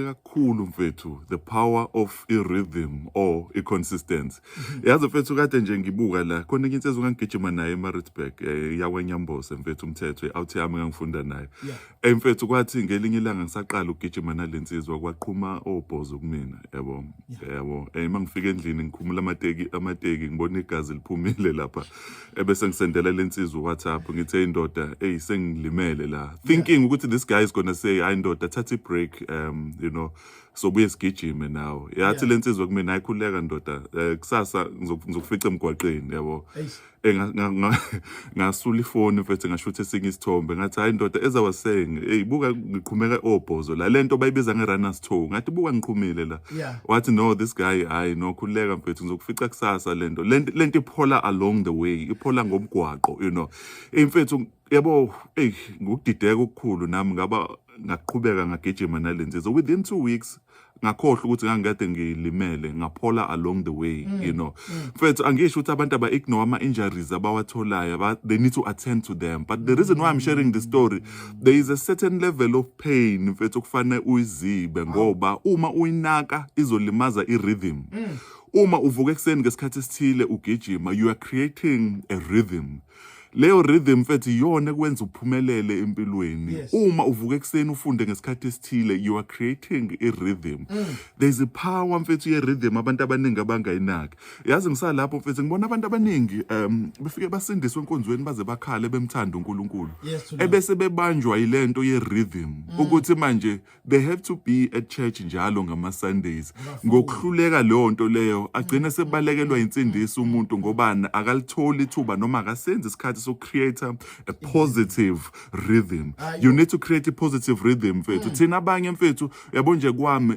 kakhulu mfethu the power of i-rhythm or i-consistency yazi mfethu kade nje ngibuka la khona enye insizwa ngangigijima naye emaritzburg um eh, yakwenyambose mfethu umthetho i-out yami ngangifunda nayo yeah. um eh, mfethu kwathi ngelinye ilanga ngisaqala ukugijima nale nsizwa kwaqhuma obhozo kumina yabo yeah. yabo um eh, uma ngifika endlini ngikhumula amateki amateki ngibona igazi liphumile lapha ebese ngisendela lensizwa WhatsApp ngithe indoda hey sengilimele la thinking ukuthi this guy is going to say hayi ndoda thatha break um you know so buye sigijime nawo yathi lensizwa kumina ayikhuleka ndoda eh, kusasa ngizokufica emgwaqeni yabo eh, ngasula ifoni mfethu ngashutha esinye isithombe ngathi hayi ndoda as i was saying hey buka ngiqhumeka obhozo la lento bayibiza nge runners toe ngathi buka ngiqhumile la wathi no this guy hayi no khululeka mfethu ngizokufica kusasa lento lento lento iphola along the way iphola ngomgwaqo you know Eh, mfethu yabo ey ngokudideka okukhulu nami ngaba ngaqhubeka ngagijima nalenzi so within 2 weeks ngakhohlwa ukuthi ngangikade ngilimele ngaphola along the way you know mfethu angisho ukuthi abantu aba ignore ama injuries abawatholayo aba- they need to attend to them but the reason why i'm sharing this story there is a certain level of pain mfethu kufanele uyizibe ngoba uma uyinaka izolimaza i-rhythm mm. uma uvuka ekuseni ngesikhathi esithile ugijima you are creating a rhythm leyo rhythm mfethu iyona ekwenza uphumelele empilweni yes. uma uvuka ekuseni ufunde ngesikhathi esithile you are creating a rhythm mm. there's a power mfethu ye rhythm abantu abaningi abangayinaki yazi ngisalapho mfethu ngibona abantu abaningi um befike basindiswe enkonzweni baze bakhale bemthanda uNkulunkulu Yes, Lord. ebese bebanjwa yilento ye rhythm ukuthi manje they have to be at church njalo ngama Sundays ngokuhluleka leyo nto leyo agcine sebalekelwa insindiso umuntu ngobani akalitholi ithuba noma akasenzi isikhathi so create a positive rhythm you need to create a positive rhythm mfethu thina abanye mfethu yabo nje kwami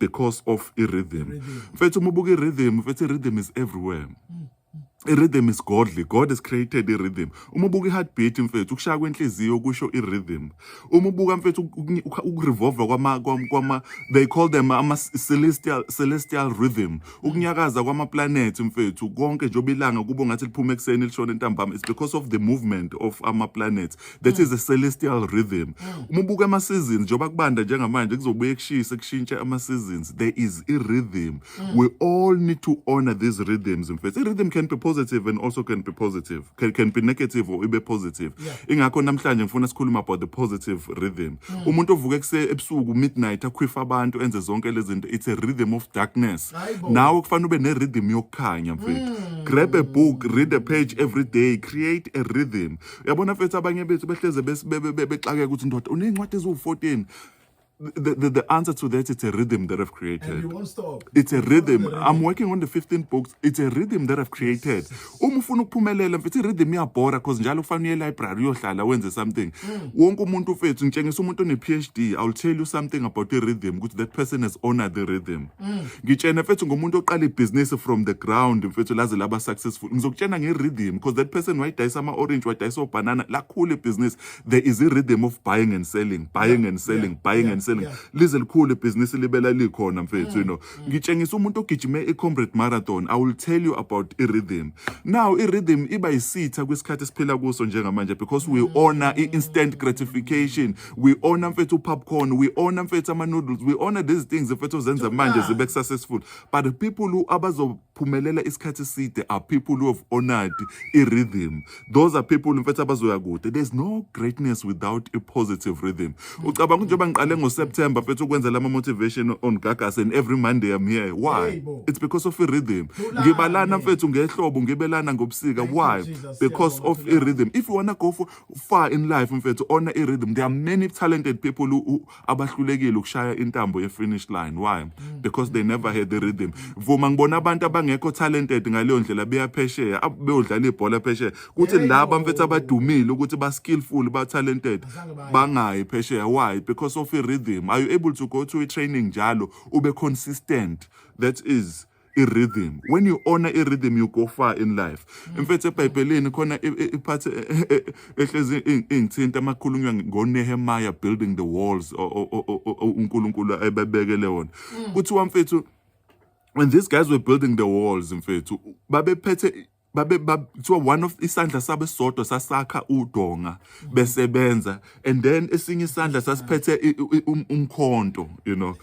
because of i-rhythm mfethu uma ubuka i-rhythm mfethu i-rhythm is everywhere i-rhythm is godly god has created i-rhythm uma ubuka i-heartbeat mfethu ukushaya kwenhliziyo kusho i-rhythm uma ubuka mfethu uku- uku- ukurevolva kwama kwam- kwama they call them ama celestial celestial rhythm ukunyakaza kwama-planet mfethu konke njengoba ilanga kubo ngathi liphuma ekuseni lishona entambama it's because of the movement of ama-planets that is a celestial rhythm uma ubuka ama seasons njengoba kubanda njengamanje kuzobuye kushise kushintshe ama seasons there is a rhythm we all need to honor these rhythms mfethu i rhythm can be positive and also can be positive can, can be negative or ibe positive ingakho namhlanje ngifuna sikhuluma about the positive rhythm umuntu ovuka kuse ebusuku midnight akhwifa abantu enze zonke lezi zinto it's a rhythm of darkness Hayi bo. nawe kufanele ube ne rhythm yokukhanya mfethu grab a book read a page every day create a rhythm yabona mfethu abanye bethu behleze bexakeka ukuthi ndoda uney'ncwadi eziwu-14 The, the, the answer to that it's a rhythm that I've created. And you won't stop. It's a rhythm. rhythm. I'm working on the 15 books. It's a rhythm that I've created. Uma ufuna ukuphumelela mfethu rhythm iyabhora because njalo kufanele uye library uyohlala wenze something. Mm. Wonke umuntu mfethu ngitshengisa umuntu one PhD. I'll tell you something about the rhythm ukuthi that person has honored the rhythm. Mm. ngitshene mfethu ngomuntu oqala ibhizinisi from the ground mfethu laze laba successful ngizokutshena nge-rhythm because that person wayidayisa ama-orange wadayisa obhanana lakhula ibhizinisi there is i-rhythm of buying and selling buying yeah, and selling yeah, buying yeah, and selling yeah. lize likhulu ibhizinisi libela likhona mfethu mm, you know mm. ngitshengisa umuntu ogijime i-comrade marathon i will tell you about i-rhythm now i-rhythm iba yisitha kwisikhathi esiphila kuso njengamanje because we mm. honor i-instant gratification we honor mfethu popcorn we honor mfethu ama noodles we honor these things mfethu ozenza manje zibe successful but the people who abazophumelela isikhathi side are people who have honored i rhythm those are people mfethu abazoya kude there's no greatness without a positive rhythm ucabanga njengoba ngiqale ngo September mfethu ukwenza lama motivation on gagas and every monday i'm here why it's because of a rhythm ngibalana mfethu ngehlobo ngibelana ngobusika why because of a rhythm if you wanna go for far in life mfethu ona i rhythm there are many talented people who abahlulekile ukushaya intambo ye finish line why mm. because they never had the rhythm vuma ngibona abantu abangekho talented ngaleyo ndlela beyaphesheya beyodlala ibhola phesheya kuthi laba mfethu abadumile ukuthi ba skillful ba talented bangayi phesheya why because of i rhythm are you able to go to a training njalo ube consistent that is i-rhythm when you honor i-rhythm you go far in life mm. mfethu ebhayibhelini khona iphathi e, e, e, ehlezi ingithinta amakhulunywa ngonehemaya building the walls unkulunkulu ebebekele wona mm. kuthiwa mfethu when these guys were building the walls mfethu babephethe babe kuthiwa one of isandla sabo esisodwa sasakha udonga besebenza and then esinye isandla sasiphethe i- i- um- umkhonto you know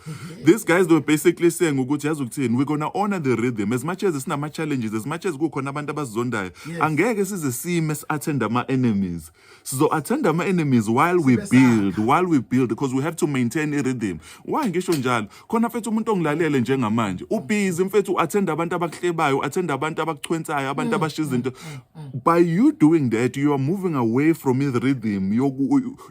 these guys they were basically saying ukuthi yazi ukuthini we're gonna honor the rhythm as much as sinama challenges as much as kukhona abantu abasizondayo angeke size sime si-attend ama enemies sizo-athanda ama-enemies while we build while we build because we have to maintain i-rhythm why ngisho njalo khona mfethu umuntu ongilalele njengamanje ubhizi mfethu u-athenda abantu abakuhlebayo u-athenda abantu abakuchwensayo abantu mm. abashiya izinto mm, mm, by you doing that you are moving away from his rhythm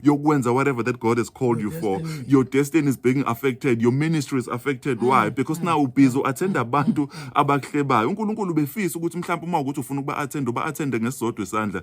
yokwenza whatever that god has called you for your destiny is being affected your ministry is affected why because now ubhizi u-athenda abantu abakuhlebayo unkulunkulu befisa ukuthi mhlawumbe uma ukuthi ufuna ukuba-athenda uba-athende ngesisodwa isandla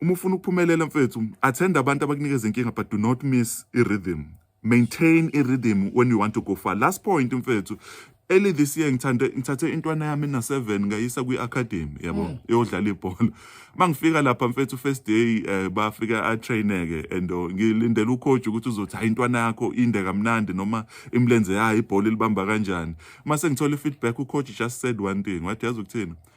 Uma ufuna ukuphumelela mfethu, attend abantu abakunikeza inkinga but do not miss i-rhythm. Maintain i-rhythm when you want to go far. Last point mfethu, early this year ngithande ngithathe intwana yami na 7 ngayisa kwi academy yabo mm. yodlala ibhola mangifika lapha mfethu first day eh, bafika a traineke and oh, ngilindela u coach ukuthi uzothi hayi intwana yakho inde kamnandi noma imlenze yayo ibhola libamba kanjani mase ngithola feedback u coach just said one thing wathi yazi ukuthini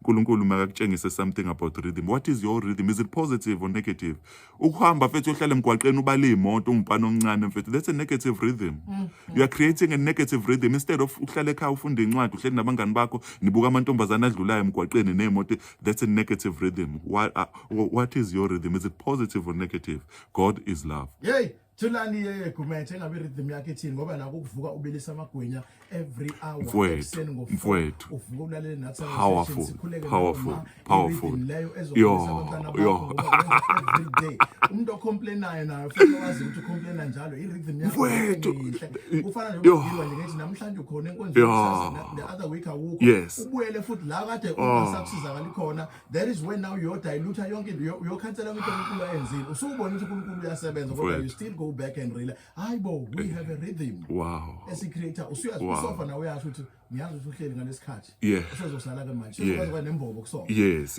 unkulunkulu makakutshengise something about rhythm what is your rhythm is it positive or negative ukuhamba mfethu uyohlala emgwaqeni ubale iy'moto ungumfana omncane mfethu that's a negative rhythm mm. you are creating a negative rhythm instead of uhlale ekhaya ufunde incwadi uhleli nabangani bakho nibuka amantombazane adlulayo emgwaqeni ney'moto that's a negative rhythm what, uh, what is your rhythm is it positive or negative god is love Yay! Thulani yeye Gumede engabe rhythm yakhe ithini ngoba nako ukuvuka ubilisa amagwinya every hour ekuseni ngo mfwethu uvuka ulalele nathi powerful powerful powerful leyo ezokwenza abantwana bakho every day umuntu ocomplainayo nayo futhi wazi ukuthi ucomplaina njalo i rhythm yakho mfwethu kufana nje ukudilwa nje ngithi namhlanje ukhona enkonzweni the other week awukho ubuyele futhi la kade ungasabusizakali khona that is when now uyodilutha yonke into uyo- uyokhansela ukuthi unkulunkulu ayenzile usubona ukuthi unkulunkulu uyasebenza kodwa you Mfowethu. still go back and rely hayi bo we have a rhythm wow esicreator usuyazi Wow. kusofa nawe uyasho ukuthi ngiyazi ukuthi uhleli ngalesikhathi Yeah. usezosala ke manje Yeah. usezokwazi nembobo kusofa yes